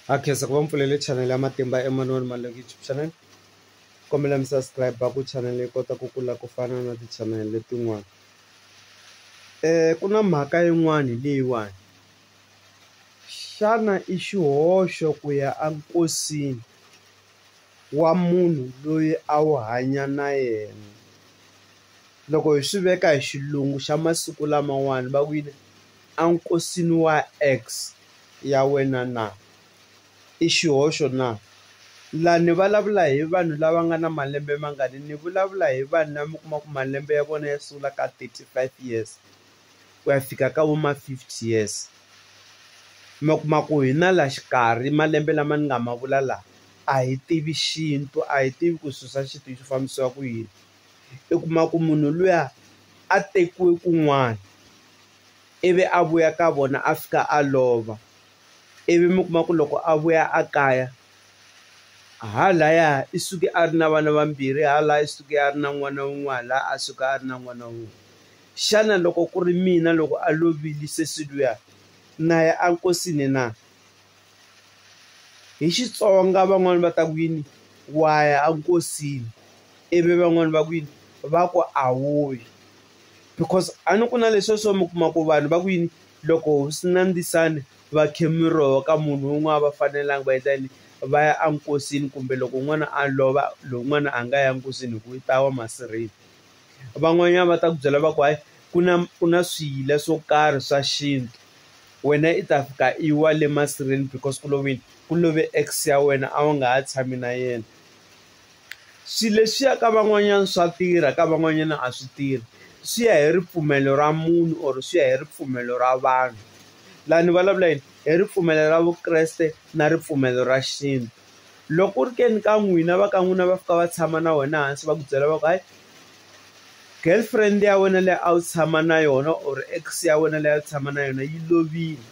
Ha khensa ku va mi pfulele chanele ya Matimba Emmanuel Maleku YouTube channel kombela mi subscribe ku channel yi kota ku kula ku fana na ti-channel letin'wana ku na mhaka yin'wani leyiwani xana i xihoxo ku ya a nkosini wa munhu loyi a wu hanya na yena loko hi swi veka hi xilungu xa masiku lamawani va ku yini. enkosini wa ex ya wena na? I xihoxo na? Laha ni vulavula hi vanhu lava nga na malembe mangani? Ni vulavula hi vanhu lava mi kuma ku malembe ya vona ya sungula ka thirty five years ku ya fika ka vo ma fifty years. Mi kuma ku hi na laha xikarhi malembe lama ni nga ma vula lawa a hi tivi xintu a hi tivi ku swilo swa xintu swi fambisiwa ku yini. u kuma ku munhu luya a tekiwe kun'wana ivi a vuya ka vona a fika a lova ivi mi kuma ku loko a vuya a kaya ha laya i suke a ri na vana vambirhi ha la i suke a ri na n'wana wun'we ha la a suka a ri na n'wana wun'we xana loko ku ri mina loko a lovile sesi luya na ya enkosini na. hi Xitsonga van'wani va ta ku yini wa ya a nkosini ivi van'wani va ku yini va ku a wu yi because a ni ku na leswiya swo mi kuma ku vanhu va ku yini loko hosi Nandisani va khe miroho ka munhu wun'we a va fanelanga va endla yini va ya enkosini kumbe loko n'wana a lova lowun'wana a nga ya nkosini hi ku i ta wa masirheni. van'wanyana va ta ku byela va ku hayi ku na ku na swiyila swo karhi swa xintu wena i ta fika i wa le masirheni because ku love yini ku love ex ya wena a wu nga ha tshami na yena swilo leswiya ka van'wanyana swa tirha ka van'wanyana a swi tirhi swi ya hi ripfumelo ra munhu or swi ya hi ripfumelo ra vanhu laha ni vulavula yini hi ripfumelo ra vukreste na ripfumelo ra xintu. Loko ku ri ke ni ka n'wina va ka n'wina va fika va tshama na wena hansi va ku byela va ku hayi girlfriend ya wena leyi a wu tshama na yona or ex ya wena leyi a wu tshama na yona yi lovile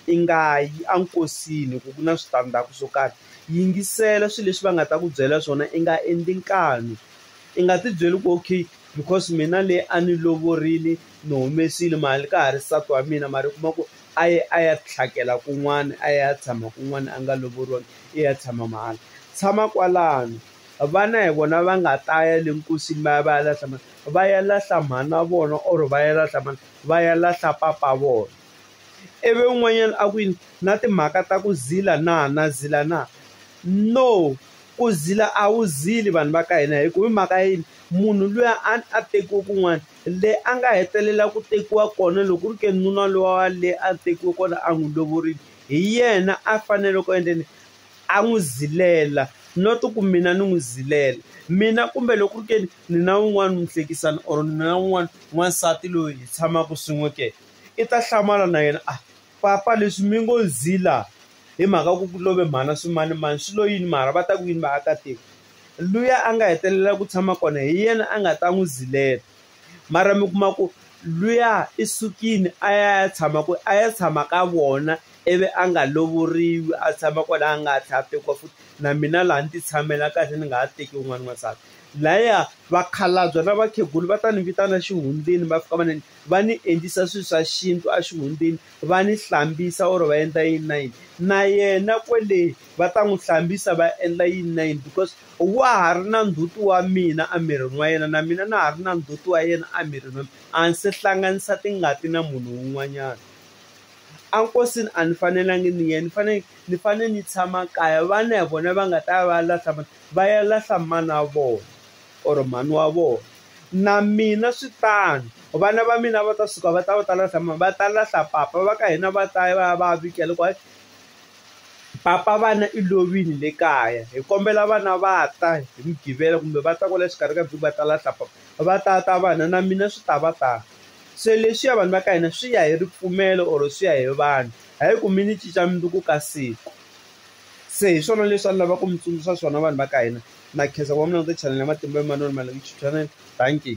i nga yi enkosini hi ku ku na switandzhaku swo karhi yingisela swilo leswi va nga ta ku byela swona i nga endli nkani i nga tibyeli ku okay because mina le a ni lovorile ni humesile mali ka ha ri nsati wa mina mara u kuma ku a ye a ya tlhakela kun'wana a ya tshama kun'wana a nga lovoriwanga i ya tshama mahala tshama kwalano vana hi vona va nga ta ya le nkosini va ya va ya lahla mhani va ya lahla mhani wa vona or va ya lahla mhani va ya lahla papa wa vona ivi un'wanyana a ku yini na timhaka ta ku zila na na zila na no ku zila a wu zili vanhu va ka hina hi ku hi mhaka yini munhu luya a a tekiwe kun'wana le a nga hetelela ku tekiwa kona loko ku ri ke ni nuna luwa wa le a tekiwe kona a n'wi lovorile hi yena a fanele ku endla yini a n'wi zilela not ku mina ni n'wi zilela mina kumbe loko ku ri ke ni ni na wun'wani muhlekisani or ni na wun'wani n'wansati loyi hi tshamaka swin'we ke i ta hlamala na yena a. Papa leswi mi ngo zila hi mhaka ku ku love mhana swimanimani swi lo yini mara va ta ku yini vaakatiko luya a nga hetelela ku tshama kona hi yena a nga ta n'wi zilela mara mi kuma ku luya i sukile a ya ya tshama ku a ya tshama ka vona ivi a nga lovoriwi a tshama kwala a nga tlhe a tekiwa futhi na mina laha ni ti tshamela kahle ni nga ha teki un'wana n'wansati laya vakhalabya na vakhegula va ta ni vitana xihundleni va fika va ni va ni endlisa swilo swa xintu a xihundleni va ni hlambisa or va endla yini na yini na yena kwele va ta n'wi hlambisa va endla yini na yini because wa ha ri na ndzhuti wa mina emirini wa yena na mina na ha ri na ndzhuti wa yena emirini wa mina a ni se hlanganisa tingati na munhu un'wanyana a nkosini a ni fanelanga ni yena ni fanele ni fanele ni tshama kaya vana hi vona va nga ta va lahla va ya lahla mana wa vona or mhani wa vona na mina swi tano vana va mina va ta suka va ta va ta lahla mani va ta lahla papa va ka hina va ta ya va ya va ya vika loko papa vana i lovile le kaya hi kombela vana va ta hi mugqivela kumbe va ta kwala xikarhi ka vhiki va ta lahla papa va ta ta vana na mina swi ta va tano se leswiya vanhu va ka hina swi ya hi ripfumelo or swi ya hi vanhu hayi ku mi ni cinca mundzuku ka siku Se hi swona leswi a ni lavaka ku mi tsundzuxa swona vanhu va ka hina na khensa ku va mi languta chanel ya matimba ya manoni Malanguti Channel thank you.